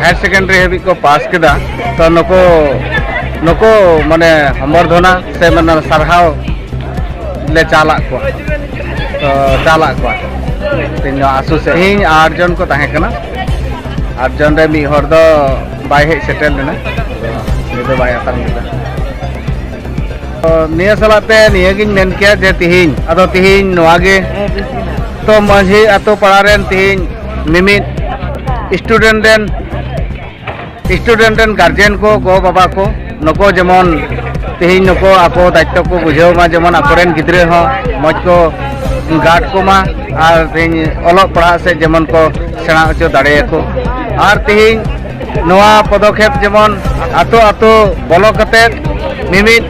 ᱦᱟᱭᱟᱨ secondary ᱦᱟᱹᱵᱤᱡ ᱠᱚ pass ᱠᱮᱫᱟ ᱛᱚ ᱱᱩᱠᱩ ᱱᱩᱠᱩ ᱢᱟᱱᱮ ᱦᱚᱢᱵᱚᱨᱫᱷᱚᱱᱟ ᱥᱮ ᱢᱟᱱᱮ ᱥᱟᱨᱦᱟᱣ ᱞᱮ ᱪᱟᱞᱟᱜ ᱠᱚᱣᱟ ᱛᱚ ᱪᱟᱞᱟᱜ ᱠᱚᱣᱟ ᱛᱮᱦᱮᱧ ᱫᱚ ᱟᱥᱩ ᱥᱮ ᱤᱧ ᱟᱴ ᱡᱚᱱ ᱠᱚ ᱛᱟᱦᱮᱸ ᱠᱟᱱᱟ ᱟᱴ ᱡᱚᱱ ᱨᱮ ᱢᱤᱫ ᱦᱚᱲ ᱫᱚ ᱵᱟᱭ ᱦᱮᱡ ᱥᱮᱴᱮᱨ ᱞᱮᱱᱟ ᱩᱱᱤ ᱫᱚ ᱵᱟᱭ ᱟᱛᱟᱝ ᱞᱮᱫᱟ ᱱᱤᱭᱟᱹ ᱥᱟᱞᱟᱜ ᱛᱮ ᱱᱤᱭᱟᱹᱜᱤᱧ ᱢᱮᱱ ᱠᱮᱭᱟ ᱡᱮ ᱛᱤᱦᱤᱧ ᱟᱫᱚ ᱛᱤᱦᱤᱧ ᱱᱚᱣᱟ ᱜᱮ ᱛᱚ ᱢᱟᱺᱡᱷᱤ ᱟᱛᱳ ᱯᱟᱲᱟ ᱨᱮᱱ ᱛᱤᱦᱤᱧ ᱢᱤᱢᱤᱫ ᱥᱴᱩᱰᱮᱱᱴ ᱨᱮᱱ ᱥᱴᱩᱰᱮᱱᱴ ᱨᱮᱱ ᱜᱟᱨᱡᱮᱱ ᱠᱚ ᱜᱚ ᱵᱟᱵᱟ ᱠᱚ ᱱᱩᱠᱩ ᱡᱮᱢᱚᱱ ᱛᱮᱦᱮᱧ ᱱᱩᱠᱩ ᱟᱠᱚ ᱫᱟᱭᱤᱛᱛᱚ ᱠᱚ ᱵᱩᱡᱷᱟᱹᱣ ᱢᱟ ᱡᱮᱢᱚᱱ ᱟᱠᱚᱨᱮᱱ ᱜᱤᱫᱽᱨᱟᱹ ᱦᱚᱸ ᱢᱚᱡᱽ ᱠᱚ ᱜᱟᱨᱰ ᱠᱚᱢᱟ ᱟᱨ ᱛᱮᱦᱮᱧ ᱚᱞᱚᱜ ᱯᱟᱲᱦᱟᱜ ᱥᱮᱫ ᱡᱮᱢᱚᱱ ᱠᱚ ᱥᱮᱬᱟ ᱦᱚᱪᱚ ᱫᱟᱲᱮᱭᱟᱠᱚ ᱟᱨ ᱛᱮᱦᱮᱧ ᱱᱚᱣᱟ ᱯᱚᱫᱚᱠᱷᱮᱯ ᱡᱮᱢᱚᱱ ᱟᱛᱳ ᱟᱛᱳ ᱵᱚᱞᱚ ᱠᱟᱛᱮᱫ ᱢᱤᱢᱤᱫ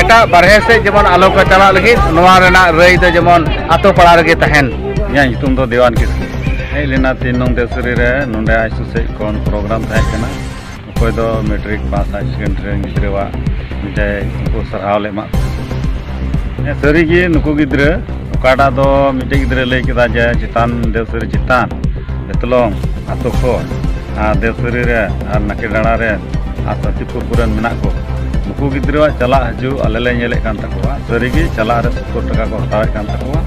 ᱮᱴᱟᱜ ᱵᱟᱨᱦᱮ ᱥᱮᱫ ᱡᱮᱢᱚᱱ ᱟᱞᱚ ᱠᱚ ᱪᱟᱞᱟᱜ ᱞᱟᱹᱜᱤᱫ ᱱᱚᱣᱟ ᱨᱮᱱᱟᱜ ᱨᱟᱹᱭ ᱫᱚ ᱡᱮᱢᱚᱱ ᱟᱛᱳ ᱯᱟᱲᱟ ᱨᱮᱜᱮ ᱛᱟᱦᱮᱱ ᱤᱧᱟᱹᱜ ᱧᱩᱛᱩᱢ ᱫᱚ ᱫᱮᱣᱟᱱ ᱠᱤᱥᱠᱩ ᱦᱮᱡ ᱞᱮᱱᱟ ᱛᱤᱱ ᱱᱚᱝ ᱫᱮᱥᱨᱤ ᱨᱮ ᱱᱚᱰᱮ ᱟᱭᱥᱩ ᱥᱮᱫ ᱠᱷᱚᱱ ᱯᱨᱳᱜᱨᱟᱢ ᱛᱟᱦᱮᱸ ᱠᱟᱱᱟ ᱚᱠᱚᱭ ᱫᱚ ᱢᱮᱴᱨᱤᱠ ᱯᱟᱥ ᱦᱟᱭᱟᱨ ᱥᱮᱠᱮᱱᱰᱟᱨᱤ ᱨᱮᱱ ᱜᱤᱫᱽᱨᱟᱹᱣᱟᱜ ᱢᱤᱫᱴᱮᱡ ᱩᱱᱠᱩ ᱥᱟᱨᱦᱟᱣ ᱞᱮ ᱮᱢᱟᱜ ᱠᱚᱣᱟ ᱥᱟᱹᱨᱤᱜᱮ ᱱᱩᱠᱩ ᱜᱤᱫᱽᱨᱟᱹ ᱚᱠᱟᱴᱟᱜ ᱫᱚ ᱢᱤᱫᱴᱮᱡ ᱜᱤᱫᱽᱨᱟᱹ ᱞᱟᱹᱭ ᱠᱮᱫᱟ ᱡᱮ ᱪᱮᱛᱟᱱ ᱫᱮᱣᱥᱟᱹᱨᱤ ᱪᱮᱛᱟᱱ ᱵᱮᱛᱞᱚᱝ ᱟᱛᱳ ᱠᱷᱚᱱ ᱟᱨ ᱫᱮᱣᱥᱟᱹᱨᱤ ᱨᱮ ᱟᱨ ᱱᱟᱠᱮ ᱰᱟᱸᱲᱟ ᱨᱮ ᱟᱨ ᱥᱟᱛᱤᱯᱩᱨ ᱠᱚᱨᱮᱱ ᱢᱮᱱᱟᱜ ᱠᱚ ᱱᱩᱠᱩ ᱜᱤᱫᱽᱨᱟᱹᱣᱟᱜ ᱪᱟᱞᱟᱜ ᱦᱤᱡᱩᱜ ᱟᱞᱮ ᱞᱮ ᱧᱮᱞᱮᱫ ᱠᱟᱱ ᱛᱟᱠᱚᱣᱟ ᱥᱟᱹᱨᱤᱜᱮ ᱪᱟᱞᱟᱜ ᱨᱮ ᱥᱚᱛᱛᱚᱨ ᱴᱟᱠᱟ ᱠᱚ ᱦᱟᱛᱟᱣᱮᱫ ᱠᱟᱱ ᱛᱟᱠᱚᱣᱟ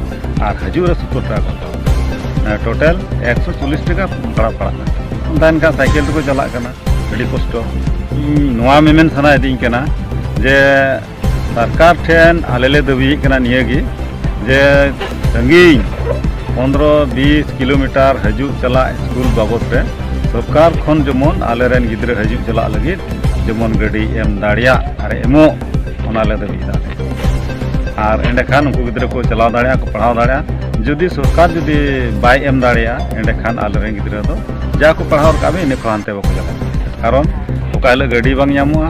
ᱟᱨ ᱦᱤᱡᱩᱜ ᱨᱮ ᱥᱚᱛᱛᱚᱨ ᱴᱟᱠᱟ ᱠᱚ ᱦᱟᱛᱟᱣᱟ ᱴᱳᱴᱟᱞ ᱮᱠᱥᱚ ᱪᱚᱞᱞᱤᱥ ᱴᱟᱠᱟ ᱵᱷᱟᱲᱟ ᱯᱟᱲᱟᱜ ᱠᱟᱱᱟ ᱚᱱᱠᱟ ᱮᱱᱠᱷᱟᱱ ᱥᱟᱭᱠᱮᱞ ᱛᱮᱠᱚ ᱪᱟᱞᱟᱜ ᱠᱟᱱᱟ ᱟᱹᱰᱤ ᱠᱚᱥᱴᱚ ᱤᱧ ᱱᱚᱣᱟ ᱢᱮᱢᱮᱱ ᱥᱟᱱᱟᱭᱮᱫᱤᱧ ᱠᱟᱱᱟ ᱡᱮ ᱥᱚᱨᱠᱟᱨ ᱴᱷᱮᱱ ᱟᱞᱮ ᱞᱮ ᱫᱟᱹᱵᱤᱭᱮᱫ ᱠᱟᱱᱟ ᱱᱤᱭᱟᱹᱜᱮ ᱡᱮ ᱥᱟᱺᱜᱤᱧ ᱯᱚᱱᱨᱚ ᱵᱤᱥ ᱠᱤᱞᱳᱢᱤᱴᱟᱨ ᱦᱤᱡᱩᱜ ᱪᱟᱞᱟᱜ ᱥᱠᱩᱞ ᱵᱟᱵᱚᱫ ᱨᱮ ᱥᱚᱨᱠᱟᱨ ᱠᱷᱚᱱ ᱡᱮᱢᱚᱱ ᱟᱞᱮᱨᱮᱱ ᱜᱤᱫᱽᱨᱟᱹ ᱦᱤᱡᱩᱜ ᱪᱟᱞᱟᱜ ᱞᱟᱹᱜᱤᱫ ᱡᱮᱢᱚᱱ ᱜᱟᱹᱰᱤ ᱮᱢ ᱫᱟᱲᱮᱭᱟᱜ ᱟᱨ ᱮᱢᱚᱜ ᱚᱱᱟᱞᱮ ᱫᱟᱹᱵᱤᱭᱮᱫᱟ ᱟᱨ ᱮᱸᱰᱮᱠᱷᱟᱱ ᱩᱱᱠᱩ ᱜᱤᱫᱽᱨᱟᱹ ᱠᱚ ᱪᱟᱞᱟᱣ ᱫᱟᱲᱮᱭᱟᱜᱼᱟ ᱠᱚ ᱯᱟᱲᱦᱟᱣ ᱫᱟᱲᱮᱭᱟᱜᱼᱟ ᱡᱩᱫᱤ ᱥᱚᱨᱠᱟᱨ ᱡᱩᱫᱤ ᱵᱟᱭ ᱮᱢ ᱫᱟᱲᱮᱭᱟᱜᱼᱟ ᱮᱸᱰᱮᱠᱷᱟᱱ ᱟᱞᱮᱨᱮᱱ ᱜᱤᱫᱽᱨᱟᱹ ᱫᱚ ᱡᱟ ᱠᱚ ᱯᱟᱲᱦᱟᱣ ᱨᱟᱠᱟᱵ ᱤᱱᱟᱹ ᱠᱷᱚᱱ ᱦᱟᱱᱛᱮ ᱵᱟᱠᱚ ᱪᱟᱞᱟᱜᱼᱟ ᱠᱟᱨᱚᱱ ᱚᱠᱟ ᱦᱤᱞᱳᱜ ᱜᱟᱹᱰᱤ ᱵᱟᱝ ᱧᱟᱢᱚᱜᱼᱟ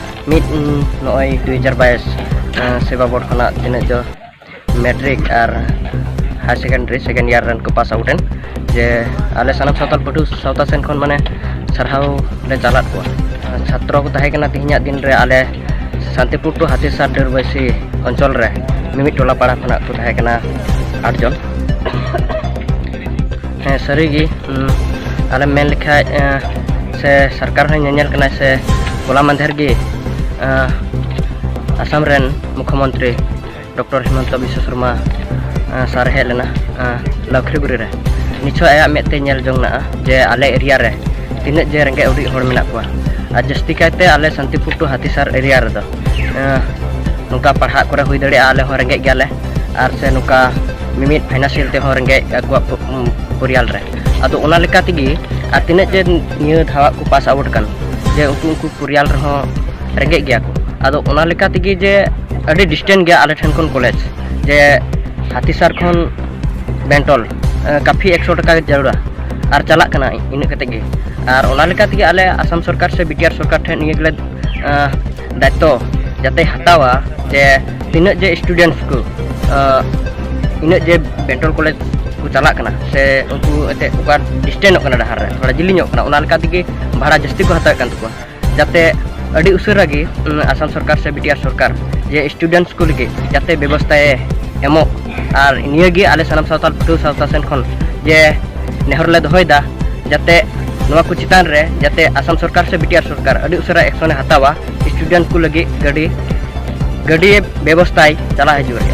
ᱢᱤᱫ ᱱᱚᱜᱼᱚᱭ ᱫᱩ ᱦᱟᱡᱟᱨ ᱵᱟᱭᱤᱥ ᱥᱮᱵᱟ ᱵᱳᱨᱰ ᱠᱷᱚᱱᱟᱜ ᱛᱤᱱᱟᱹᱜ ᱡᱚ ᱢᱮᱴᱨᱤᱠ ᱟᱨ ᱦᱟᱭᱟᱨ ᱥᱮᱠᱮᱱᱰᱟᱨᱤ ᱥᱮᱠᱮᱱᱰ ᱤᱭᱟᱨ ᱨᱮᱱ ᱠᱚ ᱯᱟᱥ ᱟᱣᱩᱴ ᱮᱱ ᱡᱮ ᱟᱞᱮ ᱥᱟᱱᱟᱢ ᱥᱟᱶᱛᱟᱞ ᱯᱟᱹᱴᱷᱩᱣᱟᱹ ᱥᱟᱶᱛᱟ ᱥᱮᱱ ᱠᱷᱚᱱ ᱢᱟᱱᱮ ᱥᱟᱨᱦᱟᱣ ᱞᱮ ᱪᱟᱞᱟᱫ ᱠᱚᱣᱟ ᱪᱷᱟᱛᱨᱚ ᱠᱚ ᱛᱟᱦᱮᱸ ᱠᱟᱱᱟ ᱛᱮᱦᱮᱧᱟᱜ ᱫᱤᱱ ᱨᱮ ᱟᱞᱮ ᱥᱟᱱᱛᱤᱯᱩᱨ ᱴᱩ ᱦᱟᱛᱤᱥᱟᱨ ᱰᱟᱹᱨᱵᱟᱹᱭᱥᱤ ᱚᱧᱪᱚᱞ ᱨᱮ ᱢᱤᱢᱤᱫ ᱴᱚᱞᱟ ᱯᱟᱲᱟ ᱠᱷᱚᱱᱟᱜ ᱠᱚ ᱛᱟᱦᱮᱸ ᱠᱟᱱᱟ ᱟᱴ ᱡᱚᱱ ᱦᱮᱸ ᱥᱟᱹᱨᱤᱜᱮ ᱟᱞᱮᱢ ᱢᱮᱱ ᱞᱮᱠᱷᱟᱡ ᱥᱮ ᱥᱚᱨᱠᱟᱨ ᱦᱚᱸ ᱧᱮᱧᱮᱞ ᱠᱟᱱᱟᱭ ᱥᱮ ᱦᱚᱞᱟ ᱢᱟᱫᱷᱮᱨ ᱜᱮ ᱟᱥᱟᱢ ᱨᱮᱱ ᱢᱩᱠᱷᱚᱢᱚᱱᱛᱨᱤ ᱰᱚᱠᱴᱚᱨ ᱦᱤᱢᱚᱱᱛᱚ ᱵᱤᱥᱥᱚ ᱥᱚᱨᱢᱟ ᱥᱟᱨ ᱦᱮᱡ ᱞᱮᱱᱟ ᱞᱟᱠᱷᱨᱤᱜᱩᱨᱤ ᱨᱮ ᱱᱤᱪᱷᱚᱭ ᱟᱭᱟᱜ ᱢᱮᱫ ᱛᱮ ᱧᱮᱞ ᱡᱚᱝ ᱱᱟᱜᱼᱟ ᱡᱮ ᱟᱞᱮ ᱮᱨᱤᱭᱟ ᱨᱮ ᱛᱤᱱᱟᱹᱜ ᱡᱮ ᱨᱮᱸᱜᱮᱡ ᱚᱨᱮᱡ ᱦᱚᱲ ᱢᱮᱱᱟᱜ ᱠᱚᱣᱟ ᱟᱨ ᱡᱟᱹᱥᱛᱤ ᱠᱟᱭᱛᱮ ᱟᱞᱮ ᱥᱟᱱᱛᱤᱯᱩᱨ ᱴᱩ ᱦᱟᱹᱛᱤᱥᱟᱨ ᱮᱨᱤᱭᱟ ᱨᱮᱫᱚ ᱱᱚᱝᱠᱟ ᱯᱟᱲᱦᱟᱜ ᱠᱚᱨᱮ ᱦᱩᱭ ᱫᱟᱲᱮᱭᱟᱜᱼᱟ ᱟᱞᱮ ᱦᱚᱸ ᱨᱮᱸᱜᱮᱡ ᱜᱮᱭᱟᱞᱮ ᱟᱨ ᱥᱮ ᱱᱚᱝᱠᱟ ᱢᱤᱢᱤᱫ ᱯᱷᱟᱭᱱᱟᱱᱥᱤᱭᱟᱞ ᱛᱮᱦᱚᱸ ᱨᱮᱸᱜᱮᱡ ᱟᱠᱚᱣᱟᱜ ᱯᱚᱨᱤᱭᱟᱞ ᱨᱮ ᱟᱫᱚ ᱚᱱᱟ ᱞᱮᱠᱟ ᱛᱮᱜᱮ ᱟᱨ ᱛᱤᱱᱟᱹᱜ ᱡᱮ ᱱᱤᱭᱟᱹ ᱫᱷᱟᱣᱟᱜ ᱠᱚ ᱯᱟᱥ ᱟᱣᱩᱴ ᱠᱟᱱ ᱡᱮ ᱩᱱᱠᱩ ᱩᱱᱠᱩ ᱯᱚᱨᱤᱭᱟᱞ ᱨᱮᱦᱚᱸ ᱨᱮᱸᱜᱮᱡ ᱜᱮᱭᱟ ᱠᱚ ᱟᱫᱚ ᱚᱱᱟ ᱞᱮᱠᱟ ᱛᱮᱜᱮ ᱡᱮ ᱟᱹᱰᱤ ᱰᱤᱥᱴᱮᱱ ᱜᱮᱭᱟ ᱟᱞᱮ ᱴᱷᱮᱱ ᱠᱷᱚᱱ ᱠᱚᱞᱮᱡᱽ ᱡᱮ ᱦᱟᱛᱤᱥᱟᱨ ᱠᱷᱚᱱ ᱵᱮᱱᱴᱚᱞ ᱠᱟᱯᱷᱤ ᱮᱠᱥᱚ ᱴᱟᱠᱟ ᱡᱟᱹᱨᱩᱲᱟ ᱟᱨ ᱪᱟᱞᱟᱜ ᱠᱟᱱᱟ ᱤᱱᱟᱹᱜ ᱠᱟᱛᱮᱫ ᱜᱮ ᱟᱨ ᱚᱱᱟ ᱞᱮᱠᱟ ᱛᱮᱜᱮ ᱟᱞᱮ ᱟᱥᱟᱢ ᱥᱚᱨᱠᱟᱨ ᱥᱮ ᱵᱤᱴᱤᱟᱨ ᱥᱚᱨᱠᱟᱨ ᱴᱷᱮᱱ ᱱᱤᱭᱟᱹ ᱜᱮᱞᱮ ᱫᱟᱭᱤᱛᱛᱚ ᱡᱟᱛᱮ ᱦᱟᱛᱟᱣᱟ ᱡᱮ ᱛᱤᱱᱟᱹᱜ ᱡᱮ ᱥᱴᱩᱰᱮᱱᱴᱥ ᱠᱚ ᱤᱱᱟᱹᱜ ᱡᱮ ᱵᱮᱝᱜᱚᱞ ᱠᱚᱞᱮᱡᱽ ᱠᱚ ᱪᱟᱞᱟᱜ ᱠᱟᱱᱟ ᱥᱮ ᱩᱱᱠᱩ ᱮᱱᱛᱮᱫ ᱚᱠᱟ ᱰᱤᱥᱴᱮᱱᱚᱜ ᱠᱟᱱᱟ ᱰᱟᱦᱟᱨ ᱨᱮ ᱛᱷᱚᱲᱟ ᱡᱤᱞᱤᱧᱚᱜ ᱠᱟᱱᱟ ᱚᱱᱟ ᱞᱮᱠᱟ ᱛᱮᱜᱮ ᱵᱷᱟᱲᱟ ᱡᱟᱹᱥᱛᱤ ᱠᱚ ᱦᱟᱛᱟᱣᱮᱫ ᱠᱟᱱ ᱛᱟᱠᱚᱣᱟ ᱡᱟᱛᱮ ᱟᱹᱰᱤ ᱩᱥᱟᱹᱨᱟ ᱜᱮ ᱟᱥᱟᱢ ᱥᱚᱨᱠᱟᱨ ᱥᱮ ᱵᱤᱴᱤᱟᱨ ᱥᱚᱨᱠᱟᱨ ᱡᱮ ᱥᱴᱩᱰᱮᱱᱴᱥ ᱠᱚ ᱞᱟᱹᱜᱤᱫ ᱡᱟᱛᱮ ᱵᱮᱵᱚᱥᱛᱷᱟᱭ ᱮᱢᱚᱜ ᱟᱨ ᱱᱤᱭᱟᱹ ᱜᱮ ᱟᱞᱮ ᱥᱟᱱᱟᱢ ᱥᱟᱶᱛᱟᱞ ᱯᱟᱹᱴᱷᱩᱣᱟᱹ ᱥᱟᱶᱛᱟ ᱥᱮᱱ ᱠᱷᱚᱱ ᱡᱮ ᱱᱮᱦᱚᱨ ᱞᱮ ᱫᱚᱦᱚᱭᱮᱫᱟ ᱡᱟᱛᱮ ᱱᱚᱣᱟ ᱠᱚ ᱪᱮᱛᱟᱱ ᱨᱮ ᱡᱟᱛᱮ ᱟᱥᱟᱢ ᱥᱚᱨᱠᱟᱨ ᱥᱮ ᱵᱤᱴᱤᱟᱨ ᱥᱚᱨᱠᱟᱨ ᱟᱹᱰᱤ ᱩᱥᱟᱹᱨᱟ ᱮᱠᱥᱚᱱᱮ ᱦᱟᱛᱟᱣᱟ ᱥᱴᱩᱰᱮᱱᱴ ᱠᱚ ᱞᱟᱹᱜᱤᱫ ᱜᱟᱹᱰᱤ ᱜᱟᱹᱰᱤ ᱵᱮᱵᱚᱥᱛᱷᱟᱭ ᱪᱟᱞᱟᱣ ᱦᱤᱡᱩᱜ ᱨᱮ